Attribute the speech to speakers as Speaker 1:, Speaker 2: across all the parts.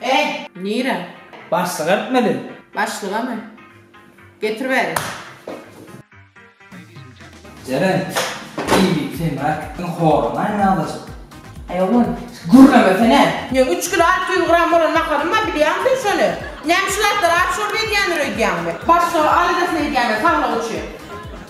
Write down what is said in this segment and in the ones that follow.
Speaker 1: Eý, nirä? Başlyga gitmeli. Başlygamy? Getir bäri. Jeren, iýmit sen rakityň horuny aýnalaşyp. Eý, oglan, gürlemesene! Meň üç kilo alty ýüz gram bolan naharym bar, bilýäňmi sen şony? Näme şu zatlar aç şorba edýändir öýdýäňmi? Başlyga al edesin öýdýän-ä, saglygy üçin.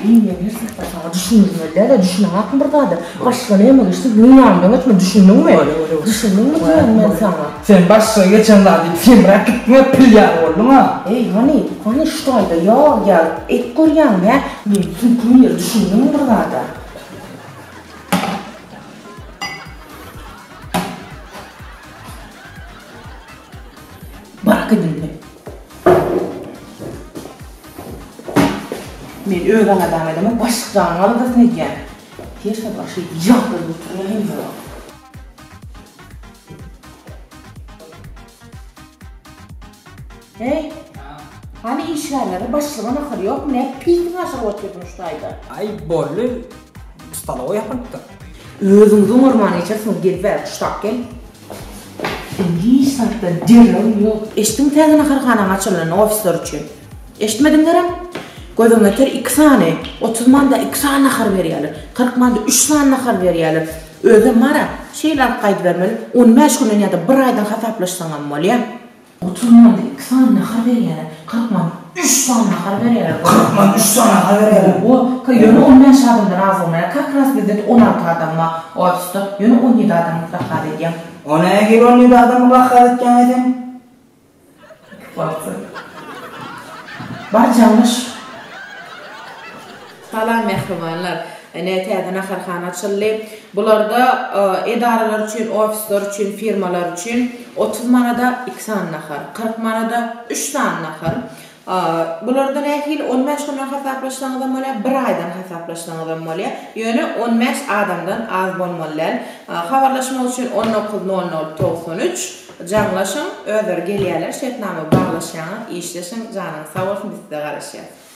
Speaker 1: Eýýäm her sehpä saňa düşündirmeli däl-ä, düşüneňakmy bir zada? Başga näme geçse, günüň ýanyndan geçmeli, düşündiňmi? Düşündiňmi diýýän men saňa? Sen başga geçen zat diýip semräp gitdiň-ä, pil ýaly bolduň-a! Eý, hany, hany, şu taýda ýag ýa et görýäňmi, hä? Meniň süňküm ýer, düşündiňmi bir zada? Barak edin, hä? Men öz ana jan edemok, başlyk janyňy aladasyn edýän. Her sabah şeýdip ýagdaý göterýän hem ýok. Heý, hany işgärlere başlyga nahar ýokmy, nädip pisiňi aşyryp oturdyň şu taýda? Aý, boldy, stolowa ýapylypdyr. Özüňizi oňarman geçersiňiz, gel bäri, puştak gel. Hiç zatda derew ýok. Eşitdiňmi täze naharhananyň açylanyny ofisler üçin? Eşitmediňlerem? Gözüň ýeter iki sany, otuz manda iki sany nahar berýäler. Kyrk manda üç sany nahar berýäler. Özem bar-a, şeýle alyp gaýdybermeli, on bäş günden ýa-da bir aýdan hasaplaşsaňam bolýa. Otuz manda iki sany nahar berýäler. Kyrk manda üç sany nahar berýäler. Kyrk manda üç sany nahar berýäler. Owo, ka, ýöne on bäş adamdan az bolmaýar. Kak raz bizde-de on alty adam bar ofisda. Ýöne on ýedi adamy krakaz edýäň. O näme hili on ýedi adamy krakaz etýäň eýsem? Iki porsiýa. Bar, jaňlaş. Salam mähribanlar. Ine täze naharhana açyldy. Bularda edaralar üçin, ofisler üçin, firmalar üçin otuz manada iki sany nahar, kyrk manada üç sany nahar. Bularda nähili? On bäş günden hasaplaşsaňyzam bolýar, bir aýdan hasaplaşsaňyzam bolýar. Ýöne on bäş adamdan az bolmaly däl. Habarlaşmak üçin on dokuz nol nol togsan üç jaňlaşyň, özleri gelýärler, şertnama baglaşýaňyz, işleşiň, janyňyz sag bolsun, biz size garaşýas.